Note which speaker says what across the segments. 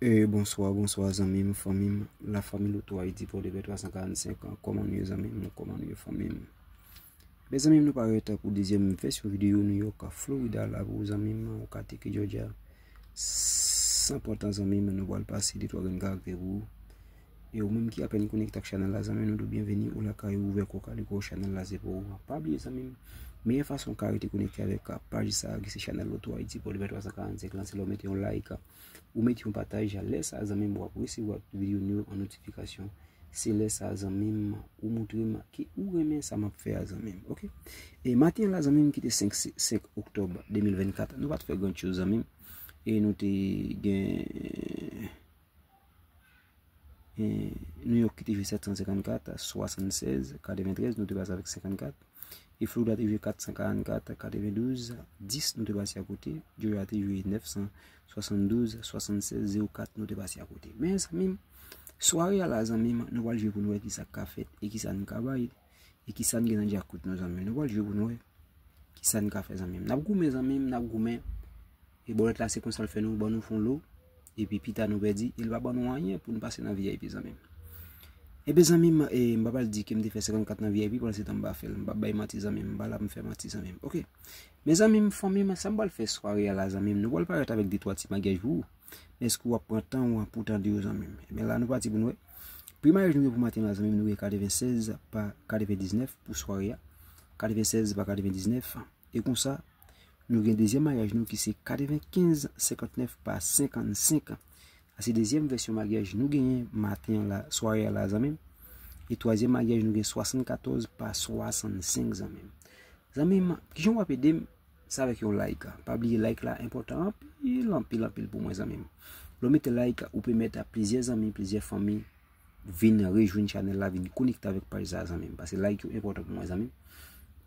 Speaker 1: Eee bonswa bonswa zanmi m fanmi m la fanmi loutou ayiti pòdepè 345 an kòman nou ye zanmi m nou kòman nou ye fanmi m mezanmi m nou pa rete pou dezyèm vèsyon videyo nou yo ka florida la pou zanmi m ou ka teke jòjya san pòtan zanmi m nou bal pase detwa grenn karakte pou ou E ou menm ki apèn konekte ak chanèl la zanmi nou di w byenveni ou lakay ou ouvè kò kaliko chanèl la se pou ou pa bliye zanmi m meyè fason w ka rete konekte avèk paj sa ki se chanèl lotohaiti pòdpè 345 lan se lè w mete yon like ou mete yon pataj lè sa zanmi m w ap resevwa tout videyo nou yo an notifikasyon se lè sa zanmi m ou moutre m ke ou renmen sa m ap fè a zanmi m ok e maten la zanmi m ki te 5 oktòb 2024 nou pa t fè gran choz zanmi m e nou te gen New York ki te jwe 754, 76, 93, nou te base avèk 54. E Florida te jwe 444, 92, 10, nou te base akote. Georgia te jwe 972, 76, 04, nou te base akote. Men, zanmim, sware ala zanmim, nou wale jwe pou nou e ki sa ka fèt, e ki sa nou ka bay, e ki sa nou gen nan djakout nou zanmim. Nou wale jwe pou nou e, ki sa nou ka fèt zanmim. Nap goumen zanmim, nap goumen. E bòlèt la se konsa l fè nou, ban nou fon lo, epi pita nou pèdi, e l pa ban nou anyen pou nou pase nan vip zanmi m. Enben zanmi m, e m pa pral di ke m te fè 54 nan vip pandan se tan m pa fè l, m pa bay manti zanmi m, m pa la pou m fè manti zanmi m, ok. Men zanmi m, fanmi m, sa m pral fè sware a la zanmi m, nou pral parèt avèk de twa ti magyaj pou ou, men èske w ap pran tan ou an pou w tande yo zanmi m? Enben la nou pati pou nou wè. Pri maryaj nou gen pou maten an la zanmi m nou gen 96 pa 99 pou sware a, 96 pa 99. E konsa, nou gen dezyèm maryaj nou ki se 95 59 pa 55. Sa se dezyèm vèsyon maryaj nou genyen maten an la, sware a la zanmim. E twazyèm maryaj nou gen 74 pa 65 zanmim. Zanmim, kijan wap edem? Se avèk yon like. Pa bliye like la enpòtan anpil, anpil, anpil pou mwen zanmim. Lè w mete like, ou pèmèt a plizyè zanmi, plizyè fanmi. Vin rejwenn chanel la, vin konekte avèk paj sa zanmim. Pase like yo enpòtan pou mwen zanmim.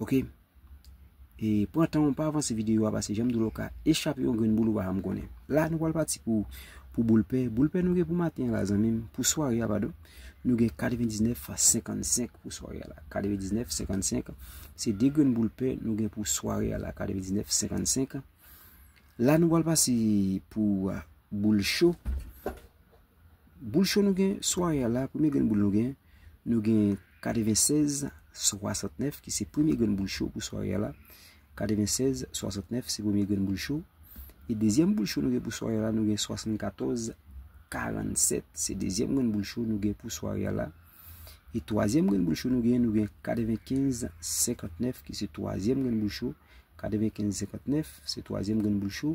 Speaker 1: Ok. E pran tan ou pa avanse videyo a pase janm dolo ka. E chape yon grenn boul ou pa janm konnen. La nou wal pati pou boulpe. Boulpe nou gen pou maten la zanmim. Pou sware a padon. Nou gen 99,55 pou sware a la. 99,55. Se de grenn boulpe nou gen pou sware a la. 99,55. La nou wal pati pou boulcho. Boul cho nou gen sware a la, premye grenn boul nou gen, nou gen 96 69 ki se premye grenn boul cho pou sware a la. 96 69 se premye grenn boul cho. E dezyèm boul cho nou gen pou sware a la, nou gen 74 47 se dezyèm grenn boul cho nou gen pou sware a la. E twazyèm grenn boul cho nou gen, nou gen 95 59 ki se twazyèm grenn boul cho. 95 59 se twazyèm grenn boul cho.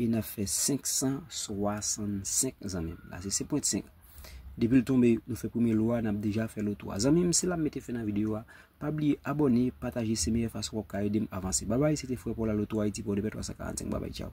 Speaker 1: E n ap fè 565 zanmi m. La se 5.5. Depi l tonbe, nou fè premye lwa, n ap deja fè lòt 3. Zanmi m, se la m mete fen nan videyo a. Pa bliye abòne, pataje se meyè fason wap ka ede m avanse. Babay, se te frè Paul Allo 3 Haiti pou 2 pè 345. Babay, tchaw.